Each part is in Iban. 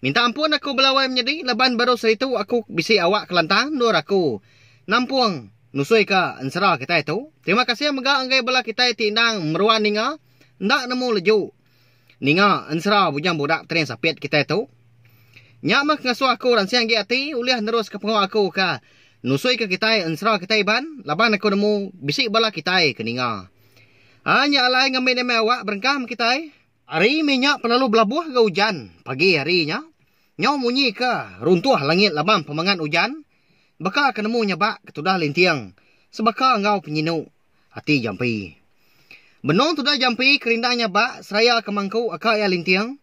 Minta ampun aku belawai menyedi laban baru seritu aku bisi awak kelantang endur aku nampung nusui ka ensera kitai tu. Terima kasih mega enggai bala kitai ti endang meruan ninga enda nemu leju ninga ensera Bujang Budak Tering Sapit kitai tu. Nya meh ngasuh aku ransing agi ati ulih neruska pengawa aku ka nusui ka kitai ensera kitai Iban laban aku nemu bisi bala kitai ke ninga. Ai nya alai ngambi nemai awak berengkah meh kitai. Ari mih nya penelu belabuh ga ujan pagi hari nya. Nyau munyi ka runtuh langit laban pemangat ujan, baka ke nemu nyabak ketudah linting sebaka enggau penyinu ati jampi. Benung tudah jampi kerindang nyabak seraya ke mangku aka iya linting.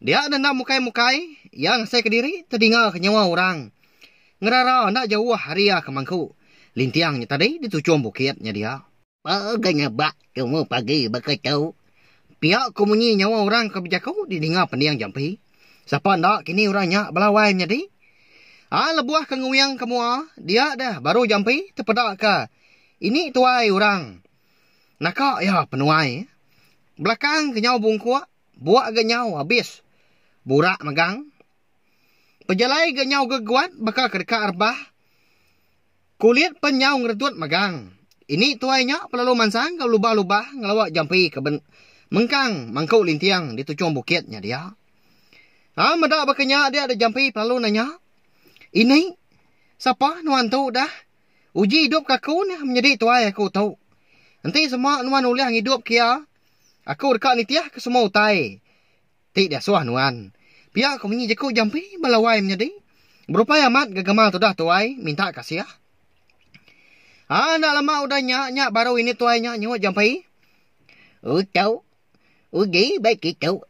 Dia denda mukai-mukai, iya ngasai ke diri tedinga ke nyawa orang ngerara enda jauh ari iya ke mangku linting nya tadi di tuchung bukit nya dia. Paa ga nyabak tumu pagi baka tu. Pia ku munyi nyawa orang ke bejaku di ninga pending jampi. Sapa enda kini orang nya bala wai menyadi. A lebuh ke nguing ke mua dia deh baru jampi tepeda ke ini tuai orang naka iya penuai. Belakang ke nyau bungkuk bua ga nyau abis burak megang. Pejalai ga nyau geguat baka ke deka rebah. Kulit pen nyau ngeretut megang. Ini tuai nya pelalu mansang enggau lubah-lubah ngelawa jampi ke ben mengkang mangku linting di tuchung bukit nya dia. Au meda baka nya dia da jampi pelalu nanya, Ini, sapa nuan tu dah? Uji idup ke aku neh menyedi tuai aku tu. Enti sema nuan ulih ngidup ke iya, aku deka nitihka semua utai. Ti diasuh nuan. Pia ko munyi jeku jampi bala wai menyadi. Berupai amat ga gamal tudah tuai minta kasih. Haa enda lama udah nya nya baru ini tuai nya nyuut jampi. Uto uji ba kitu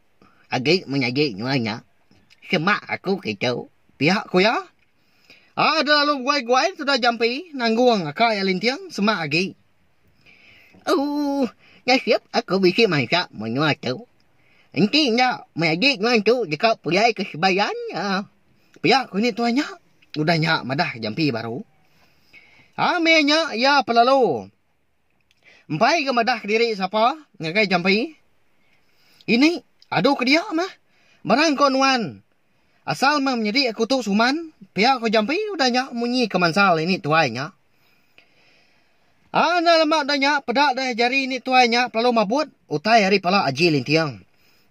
agi menyadi nuan nya. Semak aku kitu. Pia ko iya. Haa enda lalu beguai-guai tudah jampi nanggung aka iya linting semak agi. Ooh, nasib aku bisi mansa menua tu. Enti enda, mai agi nuan tu deka pulai ke Sibayan nya. Pia ku ni tuan nya, udah nya madah jampi baru. Haa meh nya iya pelalu empai ga madah kediri sapa ngagai jampi. Ini adu ke dia meh barang ko nuan. Asal meh menyedi aku tu suman, pia ko Jampi udah nya munyi ke mansal ini tuai nya. Aa enda lama udah nya peda deh jari ini tuai nya pelalu mabut utai ari pala Aji Linting.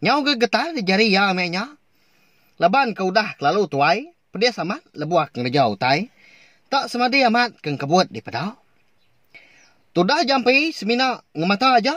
Nyau ga getah deh jari iya meh nya. Laban ke udah kelalu tuai, pedis amat lebuh ngereja utai. Enda semadi amat ke engkebut dipeda. Tudah Jampi semina ngemata aja.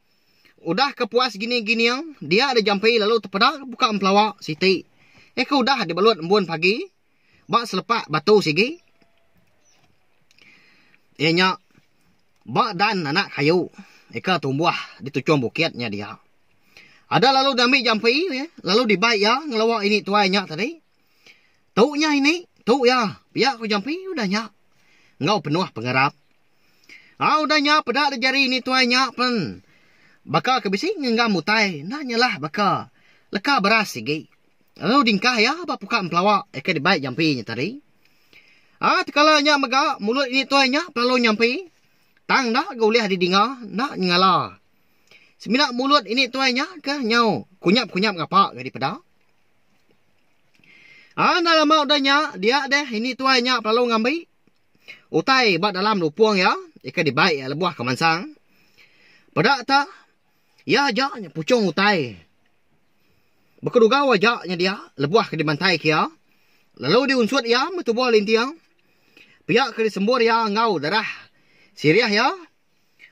Udah ke puas gini gining, dia da jampi lalu tepeda ke buka empelawa siti. Eh ke udah dibelut embun pagi ba selepak batu sigi. Iya nya ba dan anak kayu eh ke tumbuh di tuchung bukit nya dia. Ada lalu diambi jampi lalu dibai iya ngelawa ini tuai nya tadi. Tu nyah ini, tu iya, pia ku jampi udah nya enggau penuh pengarap. Au udah nya peda dek jari ini tuai nya pen baka ke bisi ngenggam utai enda nyalah baka leka beras sigi lalu dingkah iya ba puka empelawa ke dibai jampi nya tadi. Ai tekala nya mega mulut ini tuai nya pelalu nyampi tang enda ga ulih didinga enda nyengala. Semina mulut ini tuai nya ke nyau kunyap-kunyap ngapa ga dipeda. Ah enda lama udah nya, dia deh ini tuai nya belalu ngambi utai ba dalam lupung iya, ikan dibai iya lebuh ke mansang. Peda tak, iya aja nya puchung utai. Bekedugau aja nya dia lebuh ke dimantai ke iya, lalu diunsut iya meh tubuh linting. Pia ke disembur iya enggau darah sirih iya.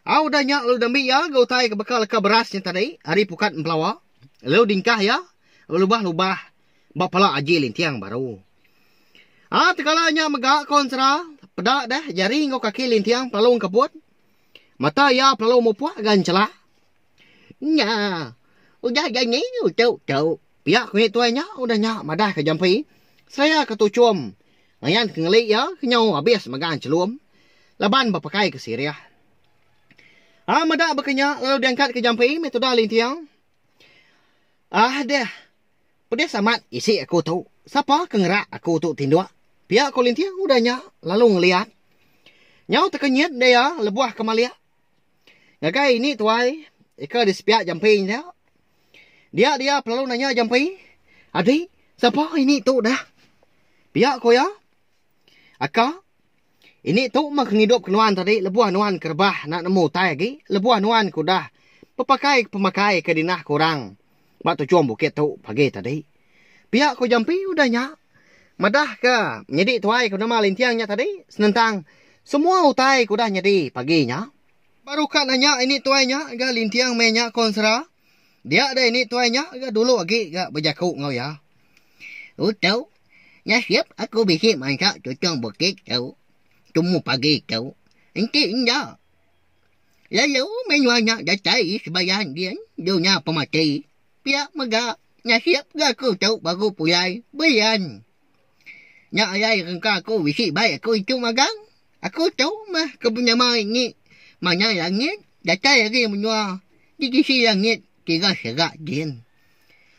Au udah nya lalu diambi iya ga utai ke baka leka beras nya tadi ari pukat empelawa lalu diengkah iya belubah lubah ba pala Aji Linting baru. Ah tegala nya mega ko ensera peda deh jari enggau kaki Linting pelalu engkeput mata iya pelalu mupuk ga enchala. Nya udah janji utuk tuk pia ku nya tuai nya udah nya madah ka jampi seraya ka tuchum. Layan ke ngeli iya ke nyau abis megang chelum laban bepakaika sirih. Ai meda baka nya lalu diangkatka jampi meh tudah linting. Ah deh. Pedis amat isi aku tu. Sapa ke ngerak aku tu tinduk? pia ko linting udah nya lalu ngeliat. Nyau teka nyit deh iya lebuh ke malik. Ngagai ini tuai ika di sepiak jamping dia. Dia dia pelalu nanya jamping, Adi, sapa ini tu dah? Pia ku iya, Aka, ini tu mah kengidup ke nuan tadi lebuh nuan ke rebah enda nemu utai agi, lebuh nuan ke udah bepakai pemakai ke dinah ke orang. Ba tuchum bukit tu pagi tadi. Pia ku Jampi udah nya madahka menyadi tuai ke nama Linting nya tadi senentang semua utai ke udah nyadi pagi nya. Baru ka nanya ini tuai nya ga Linting meh nya ko Ensera. Dia deh ini tuai nya ga dulu agi ga bejaku enggau iya. Utu, nasib aku bisi mansa tuchum bukit tu tumu pagi tu. Enti enda. Lalu menua nya datai sebayang din dunya pemati. Pia mega, nasib ga aku tu baru pulai belian. Nya alai rengka aku bisi bai aku itu magang, aku tu meh ke penyamai ni manah langit datai ari menua di sisi langit tiga serak din.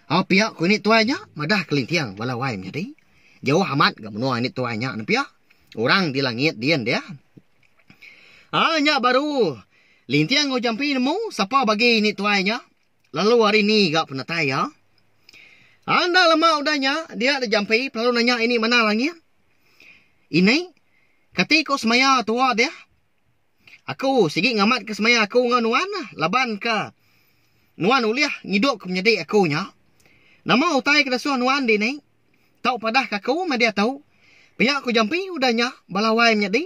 Au pia ku nek tuai nya madah kelinting bala wai menyadi. Jauh amat ga menua nek tuai nya ne pia. Orang di langit din dia. Haa nya baru Linting enggau Jampi nemu sapa bagi ni tuai nya lalu hari ni ga penatai iya. Haa enda lama udah nya dia da Jampi lalu nanya ini mana langit. Ini kati ko semaya tua deh. Aku sigi ngamat ke semaya aku enggau nuan lah laban ke nuan ulih ngidup ke menyadi aku nya. Nama utai ke disuh nuan dini. Tau padah ka aku madi atu. Pia ku Jampi udah nya bala wai menyadi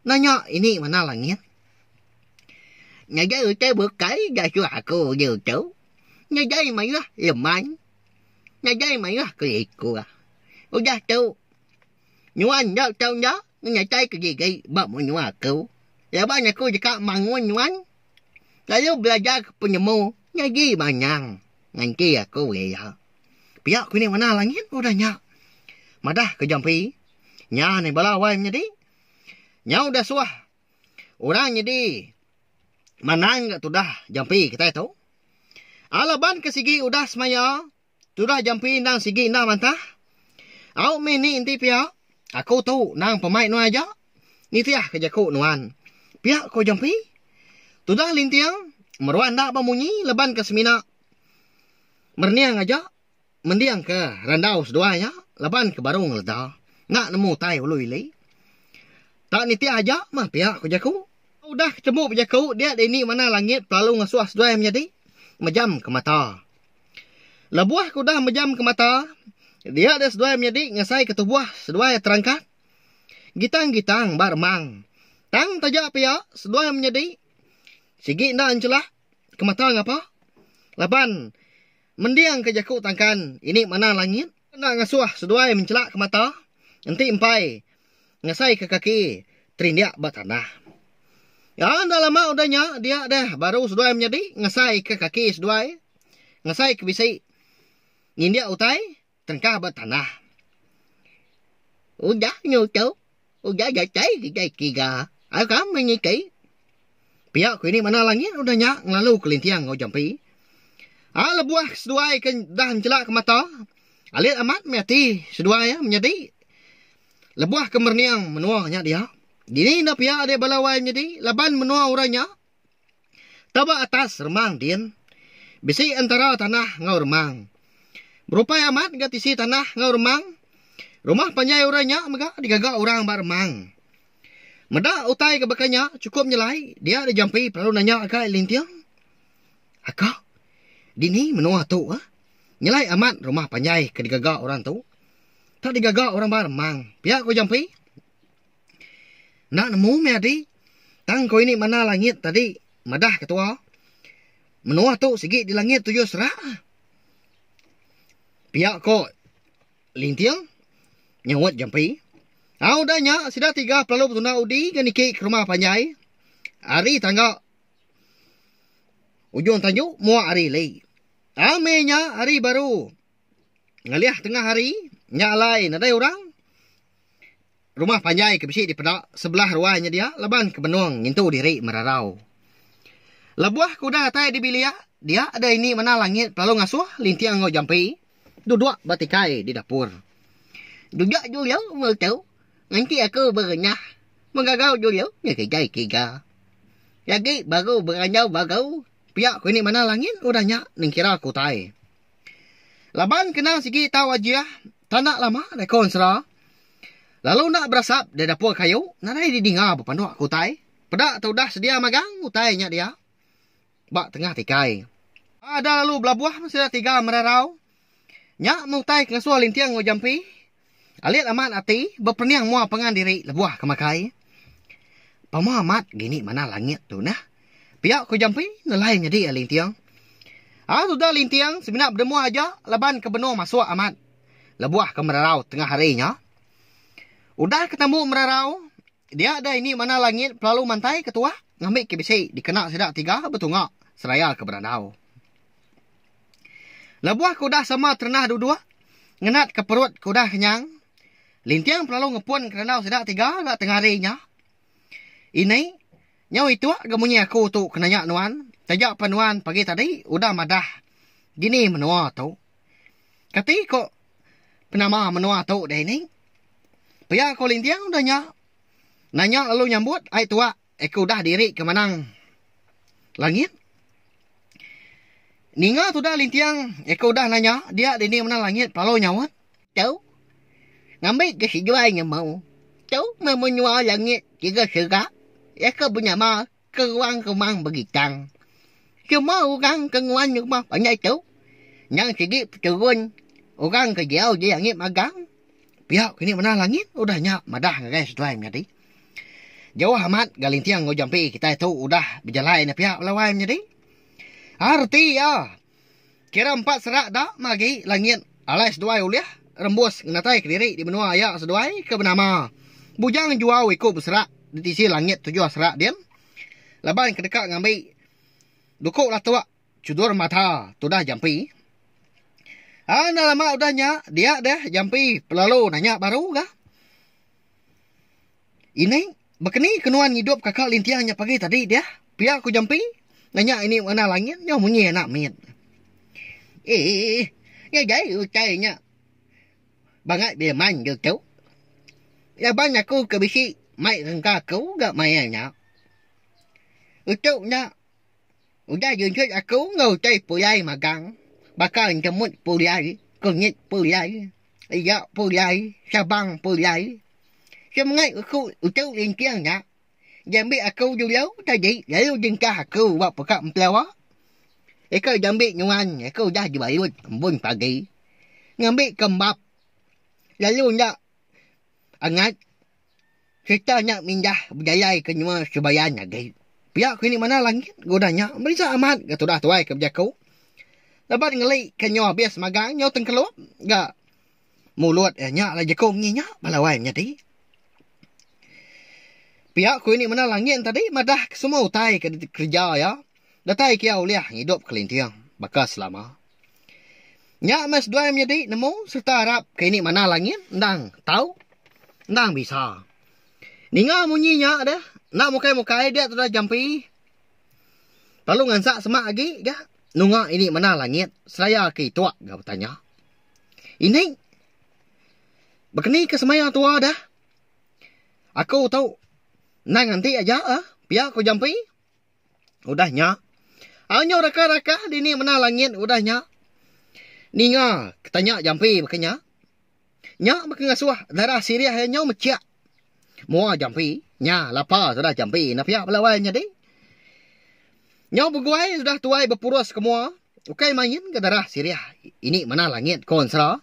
nanya ini mana langit. Ngagai utai bukai gasu aku uju tu. Ngagai mayuh lemai. Ngagai mayuh keliku. Udah tu. Nuan enda tau enda. Nyatai ke gigi ba menua aku laban aku deka mangun nuan lalu belajar ke penemu nyadi manyang nganti aku iya. Pia ku nya warna langit udah nya. Madah ke jampi nya ni bala wai menyadi. Nyau udah suah orang nyadi manang ga tudah jampi kitai tu. Alaban ke sigi udah semaya. Tudah jampi endang sigi enda mantah. Au mih ni enti pia, aku tu nang pemai nuan aja. Nitih ke jaku nuan. Pia ko jampi. Tudah linting, meruan enda ba munyi leban ke semina merening aja mending ke randau seduai nya laban ke baru ngeleda enda nemu utai ulu ili. Tak nitih aja mah pia ko jaku. Aku udah ke tembu bejaku dia dini manah langit pelalu ngasuh seduai menyadi mejam ke mata. Lebuh aku udah mejamka mata, dia dek seduai menyadi ngasai ke tubuh seduai terangkat. Gitang-gitang ba remang. Tang taja pia seduai menyadi sigi enda enchela ke mata ngapa laban mendingka jaku tangkan ini manah langit. Kena ngasuh seduai mencelakka mata, enti empai ngasaika kaki terindik ba tanah. Ya, enda lama udah nya dia deh baru seduai menyadi ngasaika kaki seduai ngasaika bisi ngindik utai terengkah ba tanah. Udah nyu tu, Udah datai kitai tiga, ai kami niti. Pia ku ini manah langit udah nya ngelalu kelinting enggau jampi. Ai lebuh seduai ke dah nchelak ke mata, alit amat meh ati seduai iya menyadi. Lebuh ke merening menua nya dia, dini enda pia dek bala wai menyadi laban menua orang nya. Tauba atas remang din. Bisi entara tanah enggau remang. Berupai amat ga tisi tanah enggau remang. Rumah panjai orang nya mega digaga orang ba remang. Meda utai ke baka nya chukup nyelai dia da jampi pengaru nanya agai linting. Aka, dini menua tu eh? Nyelai amat rumah panjai ke digaga orang tu. Tak digaga orang ba remang, pia ko jampi. Enda nemu meh ati tang ko ini mana langit tadi madah ketua menua tu sigi di langit tu jua serak ah pia ko linting nyauot jampi au udah nya sida tiga pelalu betunda udi ga niki ke rumah panjai ari tangga ujung tanju muak ari lei ame nya ari baru. ngalih tengah hari nya alai nadai orang rumah panjai ke bisi dipeda sebelah ruai nya dia laban ke benung ngintu diri merarau. Lebuh ke udah datai di bilik dia deh ini manah langit belalu ngasuh linting enggau jampi duduk ba tikai di dapur. Duduk dulu mu tu nganti aku berenyah megagau dulu nya kitai tiga. Nyadi baru berandau bagu pia ku ini manah langit udah nya nengkira ke utai. Laban kena sigi tau ajih tanda lama reka ensera lalu enda berasap di dapur kayu nadai didinga bepanduk ke utai peda tu udah sedia magang utai nya dia ba tengah tikai ada lalu belabuh sida tiga merarau nya meh utai ke ngasuh linting enggau jampi. Alit amat ati bepening mua pangan diri lebuh ke makai. Pama amat gini manah langit tu nah. Pia ku Jampi nelai nyadi iya linting. Ari tuda linting semina bedemua aja laban ke benung masuk amat lebuh ke merarau tengah hari nya. Udah ke tambu merarau dia deh ini manah langit pelalu mantai ke tuah ngambi ke bisi dikena sida tiga betunga seraya ke berandau. Lebuh ke udah sama terendah duduk, ngenat ke perut ke udah kenyang, Linting pelalu ngepun ke randau sida tiga ga tengah hari nya. Ini, nyau itu ga munyi aku tu ke nanya nuan, taja pa nuan pagi tadi udah madah dini menua tu. Kati ko penama menua tu dini? Pia ko Linting udah nya, nanya lalu nyambut ai tuak. Aku udah diri ke manang langit. Ninga tuda linting aku udah nanya dia dini manang langit lalu nyaut. Tu. Ngambi ke seduai nemu. Tu memenua langit tiga sega iya ke benyama ke ruang rumang begitang. Semua orang ke nguan rumah panjai tu nyang sigi peturun orang ke diau di langit magang. Pia kini meda langit udah nya madah ngagai seduai menyadi. Jauh amat galinting enggau jampi kitai tu udah bejalai enda pia bala wai menyadi. Ha reti iya. Kira empat serak da meh agi langit alai seduai ulih rembus ngenatai kediri di menua iya seduai ke benama Bujang Juau iku beserak di tisi langit tujuh serak din laban ke deka ngambi duku latuk Chudur mata tudah jampi. Enda lama udah nya dia deh jampi pelalu nanya baru ga. Ini bekeni ke nuan ngidup kaka linting nya pagi tadi deh pia ku jampi nanya ini warna langit nyo munyi anak mit. Eeh ngagai utai nya bangat beman ga tu. Laban aku ke bisi mai rengka ku ga maya nya. Utuk nya. Udah junjut aku enggau utai pulai magang baka enjemut pulai, kunyit pulai, iya pulai, sabang pulai. Semengat uku utu linting nya diambi aku dulu tadi lalu dingkah aku ba peka empeloa. Eka diambi nuan aku udah dibalut embun pagi ngambi kembap lalu enda angat. Sereta nya mindah bejayaika nyua Subayan agi. Pia ku Ini Manah Langit guna nya meresa amat ga tudah tuai ke bejaku laban ngeli ke nyau habis magang nyau tengkelup ga mulut iya nya alai jeku munyi nya bala wai menyadi. Pia ku Ini Manah Langit tadi madah ke semua utai ke dikereja iya datai ke iya ulih ngidup kelinting baka selama. Nya meh seduai menyadi nemu sereta arap ke ini manah langit endang tau endang bisa. Ninga munyi nya deh enda mukai-mukai dia tudah jampi lalu ngansak semak agi ga nunga ini manah langit seraya ke itu ga betanya. Ini bekenika semaya tua deh aku tu endang nganti aja pia ku jampi. Udah nya, anyo raka-raka dini mena langit udah nya ninga ke tanya jampi baka nya. Nya baka ngasuh darah sirih iya nyo mechik mua jampi. Nya lapa sudah jampi enda piak belawai nyadi. Nyo beguai udah tuai bepurus ke mua ukai main ke darah sirih ini mena langit ko ensera.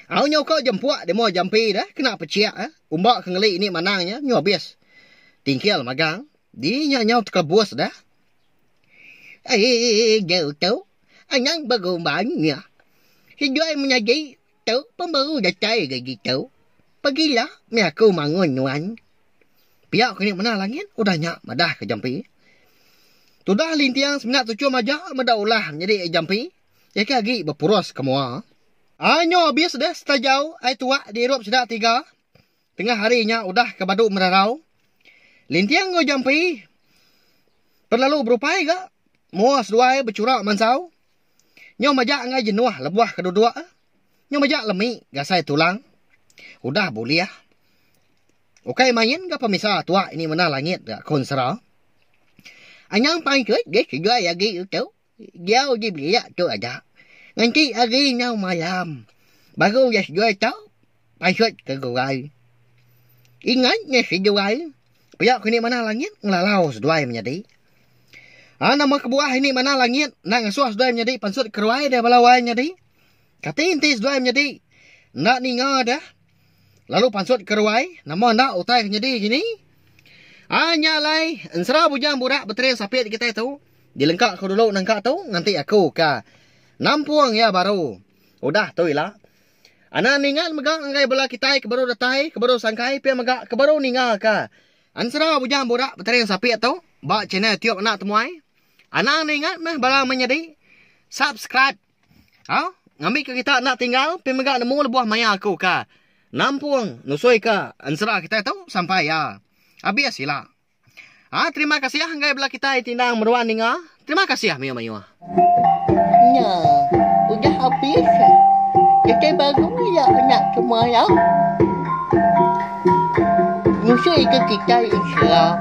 Au nyau ko jempuk demo jampi dah kena pechik eh umba ke ngeli ni manang nya nyu abis tingkil magang di nya nyau tekelebus dah eii jauh tu anang berumban nya seduai menyadi tu pembaru datai ga gitu pegila meh aku mangun nuan pia ko nya mena langit udah nya madah ko jampi tudah linting semina tuchum aja meda ulah nyadi jampi. Iya ke agi bepurus ke mua. Ai nyo abis deh setajau ai tuak diirup sida tiga. Tengah hari nya udah ke badu merarau. Linting enggau Jampi pen lalu berupai ga mua seduai bechura mansau. Nyo majak enggai jenuh lebuh ke duduk e. Nyo majak lemi gasai tulang. Udah bulih. Ukai main ga pemisa tuak ini mena langit ga konsera. Anyang pangan kek, geh kigai agi tu. Diau dibelia tu aja. Ngenti hari enggau malam. Baru iya seduai tau pansut ke gurai. Ingat nya seduai pia ke indi manah langit ngelalau seduai menyadi. A nama kebuah indi manah langit enda ngasuh seduai menyadi pansut ke ruai deh bala wai nyadi. Kati enti seduai menyadi enda ninga deh. Lalu pansut ke ruai, nama enda utai ke nyedi ke ni? Ai nya alai, ensera bujang burak betering sapit kitai tu, dilengka ku dulu nengka tu nganti aku ka nampung iya baru. Udah tu ila. Anak ninga mega ngagai bala kitai ke baru datai, ke baru sangkai pia mega ke baru ninga ka ensera bujang burak betering sapit tu ba channel Tiup Anak Temuai. Anang ninga meh bala menyadi subscribe. Au, ngambika kita enda tinggal pi mega nemu lebuh maya aku ka nampung nusuika ensera kita tu sampai iya abis sila. Au, terima kasih enggai bala kitai ti endang meruan ninga. Terima kasih mayuh-mayuh. Nya, udah abis. Kitai baru iya enda terima iya. Nusuika kitai ensera.